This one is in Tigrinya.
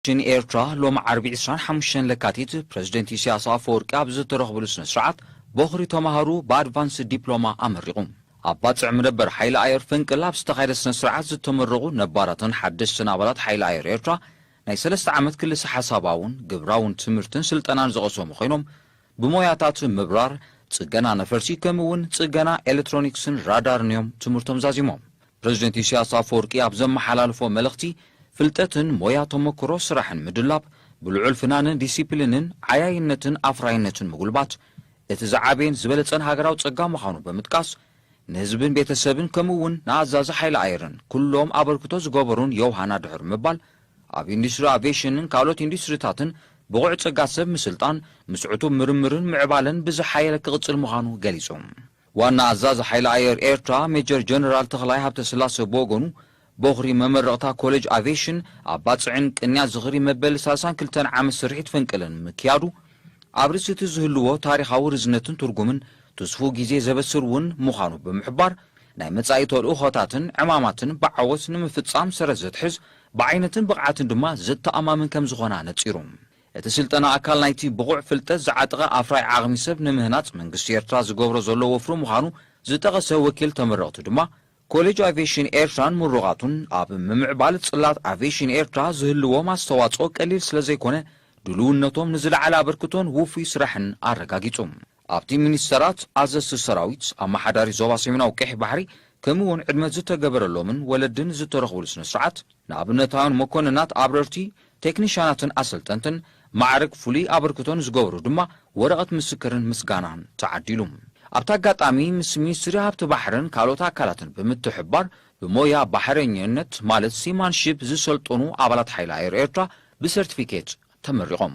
ቴሌቪዥን ኤርትራ ሎሚ ዓርቢ ዕስራን ሓሙሽተን ለካቲት ፕረዚደንት ኢሳያስ ኣፈወርቂ ኣብ ዝተረኽብሉ ስነ-ስርዓት ቦኽሪ ተማሃሩ ብኣድቫንስድ ዲፕሎማ ኣመሪቑ። ኣብ ባጽዕ መደበር ሓይሊ ኣየር ፈንቅል ኣብ ዝተኻየደ ስነ-ስርዓት ዝተመረቑ ነባራትን ሓደስትን ኣባላት ሓይሊ ኣየር ኤርትራ ናይ ሰለስተ ዓመት ክልሰ-ሓሳባውን ግብራውን ትምህርትን ስልጠናን ዝቐሰሙ ኮይኖም ብሞያታት ምብራር፣ ጽገና ነፈርቲ ከምኡ'ውን ጽገና ኤለትሮኒክስን ራዳርን'ዮም ትምህርቶም ዛዚሞም። ፕረዚደንት ኢሳያስ ኣፈወርቂ ኣብ ዘመሓላለፎ መልእኽቲ፣ ፍልጠትን ሞያ ተሞክሮ ስራሕን ምድላብ፣ ብልዑል ፍናንን ዲሲፕሊንን ዓያይነትን ኣፍራይነትን ምጉልባት፣ እቲ ዝዓበየን ዝበለጸን ሃገራዊ ጸጋ ምዃኑ ብምጥቃስ፣ ንህዝብን ቤተሰብን ከምኡ'ውን ንኣዛዚ ሓይሊ ኣየርን ኩሎም ኣበርክቶ ዝገበሩን ዮውሃና ድሑር ምባል ኣብ ኢንዱስትሪ ኣቬሽንን ካልኦት ኢንዱስትሪታትን ብቑዕ ጸጋ ሰብ ምስልጣን፣ ምስ ዕቱብ ምርምርን ምዕባለን ብዝሓየለ ክቕጽል ምዃኑ ገሊጹ። ዋና ኣዛዚ ሓይሊ ኣየር ኤርትራ ሜጀር ጀነራል ተኽላይ ሃብተስላሰ ብወገኑ፣ ቦኽሪ መመረቕታ ኮሌጅ ኣቬሽን ኣብ ባጽዕን ቅንያት ዝኽሪ መበል ሳልሳን ክልተን ዓመት ስርሒት ፈንቅልን ምክያዱ፣ ኣብ ርእሲ'ቲ ዝህልዎ ታሪኻዊ ርዝነትን ትርጉምን ትስፉው ግዜ ዘበስር እውን ምዃኑ ብምሕባር፣ ናይ መጻኢ ተልእኾታትን ዕማማትን ብዓወት ንምፍጻም ሰረት ዘትሕዝ፣ ብዓይነትን ብቕዓትን ድማ ዘተኣማምን ከም ዝኾነ ኣነጺሩ። እቲ ስልጠና ኣካል ናይቲ ብቑዕ ፍልጠት ዝዓጠቐ ኣፍራይ ዓቕሚ ሰብ ንምህናጽ መንግስቲ ኤርትራ ዝገብሮ ዘሎ ወፍሪ ምዃኑ ዝጠቐሰ ወኪል ተመረቕቲ ድማ፣ ኮሌጅ ኣቭየሽን ኤርትራን ምሩቓቱን ኣብ ምምዕባል ጽላት ኣቭየሽን ኤርትራ ዝህልዎም ኣስተዋጽኦ ቀሊል ስለዘይኮነ ድሉውነቶም ንዝለዓለ ኣበርክቶን ውፉይ ስራሕን ኣረጋጊጹ። ኣብቲ ሚኒስተራት፣ ኣዘዝቲ ሰራዊት፣ ኣመሓዳሪ ዞባ ሰሜናዊ ቀይሕ ባሕሪ፣ ከምኡ'ውን ዕድመ ዝተገበረሎምን ወለድን ዝተረኽቡሉ ስነ-ስርዓት፣ ንኣብነታውያን መኮንናት ኣብረርቲ፣ ቴክኒሻናትን ኣሰልጠንትን፣ ማዕርግ ፍሉይ ኣበርክቶ ንዝገበሩ ድማ ወረቐት ምስክርን ምስጋናን ተዓዲሉ። ኣብቲ ኣጋጣሚ፣ ምስ ሚኒስትሪ ሃብቲ ባሕርን ካልኦት ኣካላትን ብምትሕብባር፣ ብሞያ ባሕረኛነት ማለት ሲማንሺፕ ዝሰልጠኑ ኣባላት ሓይሊ ኣየር ኤርትራ ብሰርቲፊኬት ተመሪቖም።